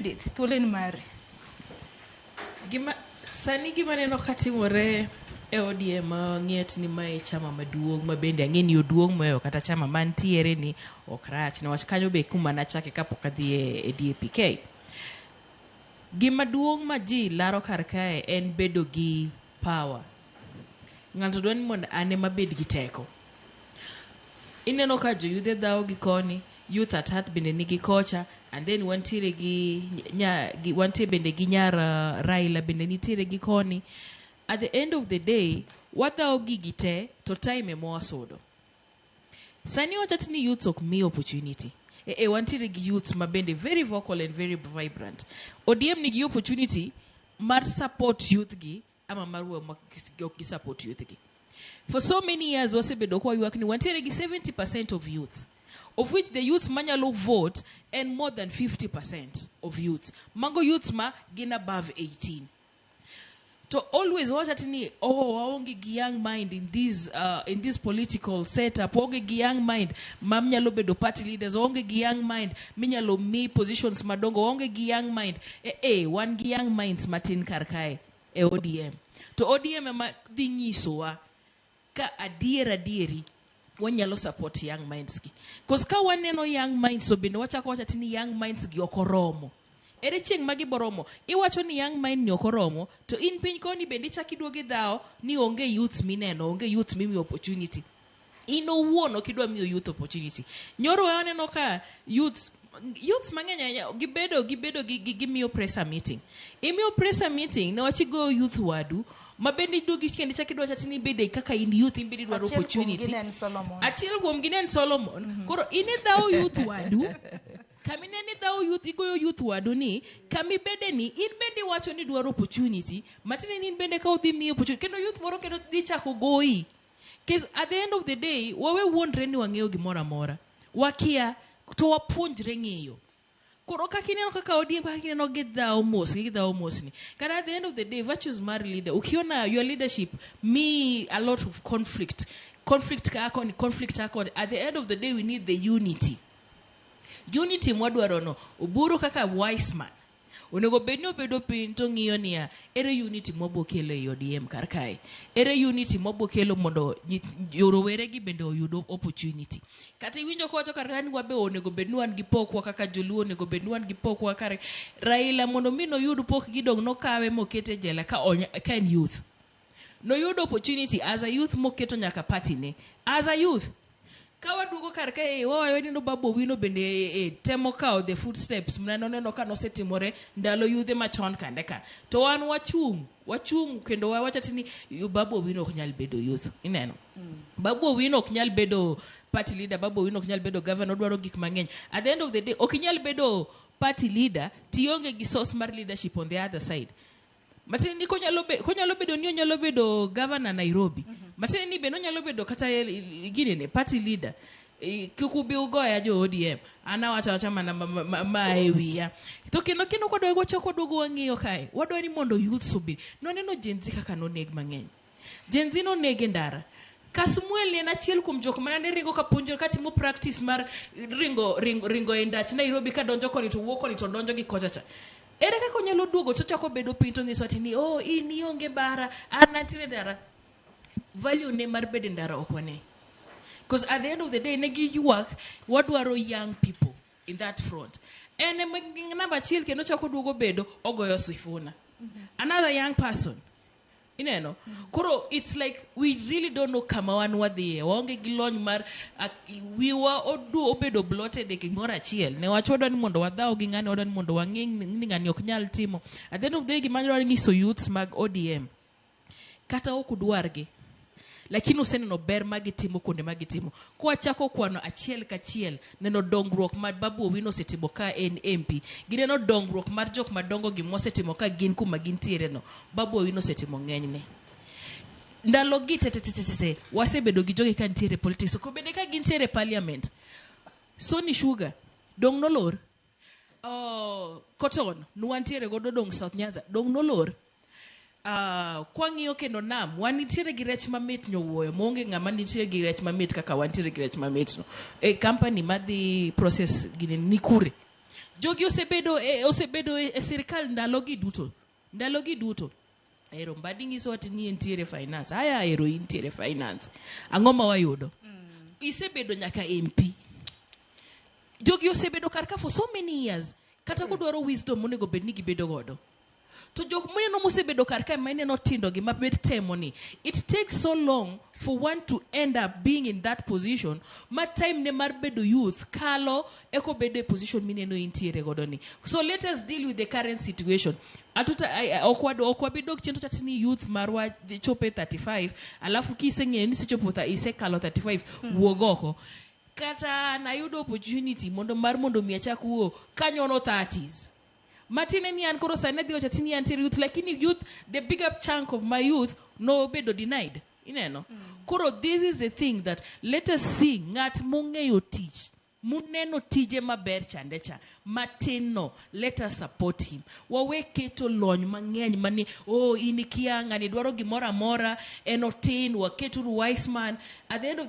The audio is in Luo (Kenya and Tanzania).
Edith, thuolo en mari. Gima, sani gima neno ka timore e ODM ng'et ni mae e chama maduong' ma bende ang'e ni oduong' moewo kata chama mantiere ni ok rach niwach kanyo be kuma nachake kapok adhi e, e DAPK. Gima duong' ma ji laro kar kae en bedo gi Power. Ng'ato dwa ni mondo an ema abed gi teko. Ineno ka joyudhe dhawo gi koni, youth at heart bende nigi kocha, and then wantiere gi, nya, gi wantie bende gi nyar uh, Raila bende nitiere gi koni. At the end of the day, wadhawo gigi te to time ema wasudo. Sani iwacho ati ni youths ok mi opportunity. Eh, eh, wantiere gi youths ma bende very vocal and very vibrant. ODM nigi opportunity mar support youth gi ama mar we ma ok gi support youth gi. For so many years wasebedo kwa yuak ni wantiere gi 70% of youth of which the youths manyalo vote and more than 50% of youths. Mago youths ma gin above 18. to always wawacho ati ni oh waonge gi young mind in this uh, in this political setup waonge gi young mind ma nyalo bedo party leaders waonge gi young mind minyalo mi positions madongo waonge gi young mind eh, eh wan gi young minds matin kar kae e ODM to ODM ema dhi nyisowa Ka adier adieri wanyalo support young minds gi. Cause ka waneno young minds to bende wachako wacha tini young minds gi ok oromo. Ere chieng' ma giboromo? Iwacho ni young mind ni ok oromo to in piny koni bende ichak iduogo idhawo ni onge youths mineno, onge youth mimiyo opportunity. In owuon ok idwa miyo youth opportunity. Nyoro waneno ka youths youths mang'eny ahinya gibedo gibedo gi- gi- gimiyo pressure meeting imiyo pressure meeting newach igoyo youth wadu ma bende iduogi kendo ichak idwa chati ni ibede kaka in youth in bende idwaro Achiel kuomgi opportunity ne en Solomon. achiel kuomgi ne en solomon koro in idhawo youth wadu kami ne ni dhawo youth igoyo youth wadu ni kami bede ni in bende iwacho ni idwaro opportunity matine ni in bende ka udhi miyo opportunity kendo youth moro kendo dhi chako goyi Cause at the end of the day, wawe wuondre ni wang'eyo gimoro amora. Wakia, to wapuonjre ng'eyo. Koro kaka ineno kaka ODM kaka ineno gidhawo mos gi gidhawo mosni. Kata at the end of the day, virtues mar leader, ukiona your leadership me a lot of conflict. Conflict kaa koni, conflict kaa koni. At the end of the day, we need the unity. Unity mwadwarono, Oburu kaka wise man, Onego bed ni obedo piny to ng'iyo niya, ere unity mwabo kelo ei ODM kar kae? Ere unity mwabo kelo mondo roweregi bende oyud opportunity? Kata iwinjo kowacho kar kae ni wabe onego bed ni wan gi pokwa kaka joluo, onego bed ni wan gi pokwa kar Raila mondo mi noyud pokgi dong nokawe mokete e jela ka en youth. Noyudo opportunity as a youth moketo nyaka party ne. As a youth. Ka waduogo kar ka e wawayo ni no Babu Owino bende e, e, temo kawo the footsteps mna noneno ka nosetimore ndalo yudhe machon kande ka. To wan wachung', wachung' kendo wawacho ati ni "Yu- Babu Owino ok nyal bedo youth. Ineno? Babu Owino ok nyal bedo party leader, Babu Owino ok nyal bedo governor, odwaro gik mang'eny. At the end of the day, ok inyal bedo party leader tionge gi source mar leadership on the other side. Matiende ni konyalo be, konyalo bedo ni onyalo bedo governor Nairobi. Matiende ni bende onyalo bedo kata el- i- i- gini ne party leader. I- Kik ubi ugoya jo ODM. An awacho awacha mana ma, ma, ma, ma e wiya. To kendo kendo kwadwa wachako waduogo wang'iyo kae. Wadwa ni mondo youth obi. Noneno Gen Z kaka noneg mang'eny. Gen Z noneg e ndara. Kasmuel ne en achiel kuom jok mana ne ringo ka puonjo ka timo practice mar ringo ringo, ringo e ndach Nairobi ka donjo koni to wuok koni to donjo gi kocha cha. Ere kaka onyalo duogo to chako bedo piny to nyiso ati ni oh in ionge bara an antiere ndara. Value ne mar bedo e ndara ok wane. Because at the end of the day ne giywak wadwaro young people in that front. En ema namba achiel kendo chako duogo bedo ogoyo sifuna. Another young person Ineno? Koro it's like we really don't know kama wan wadhiye. Waonge gi lony mar ak- wiwa odu obedo bloated e gimoro achiel. Ne wach wadwa ni mondo wadhaw gi ng'ani wadwa ni mondo wang'e ni ng'ani ok nyal timo. At the end of the day gima dwaro nyiso youths mag ODM kata ok udwargi lakini useneno ber ma gitimo kuonde ma gitimo. Kwachako kwano achiel kachiel, neno dongruok ma Babu Owino osetimo ka en MP, gineno dongruok mar jok madongo gi mosetimo ka gin kuma gintiere no. Babu Owino osetimo ng'enyne. Ndalo gi te te te te te te, wasebedo gi jogi ka nitiere e politics, ko bende ka gintiere e parliament. Sony Sugar, dong' nolor? Uh, cotton nwantiere godo dong South Nyanza dong nolor uh, kwang'iyo kendo nam wan nitiere gi rech mamit nyowuoyo maonge ng'ama nitiere gi rech mamit kaka wantiere gi rech mamit no e company madhi process gini ni kure jogi osebedo e, osebedo e, e sirikal ndalogi duto Ndalo gi duto. Ahero mbadi nyiso ati ni entiere finance. Aya ahero intiere finance. Ang'o ma wayudo? Mm. Isebedo nyaka MP. Jogi osebedo kar ka for so many years. Kata mm. kodwaro wisdom monego bed ni gibedo godo. To jok muneno mosebedo kar ka ma ineno tindo gi mabed temo ni. It takes so long for one to end up being in that position ma time ne mar bedo youth kalo eka obedo e position mineno intiere godo ni so let us deal with the current situation atuta ai- ai- ok wad- ok wabi dok chien to chati ni youth marwa dhi chope 35 alafu kiseng'eyo ni isechopo tha- isekalo 35 wuog oko kata nayudo opportunity mondo mar mondo mi achak wuo kanyono 30s matine ni an koro sani adhi ochati ni antiere youth lakini youth the big up chunk of my youth nobedo denied ineno koro this is the thing that let us see ng'at mong'eyo tich Muneno tije maber chande cha, matin no, let us support him. Wawe keto lony mang'eny mani, oh in ikia, ng'ani dwaro gimoro amora, en otin, waket uru wise man. At the end of the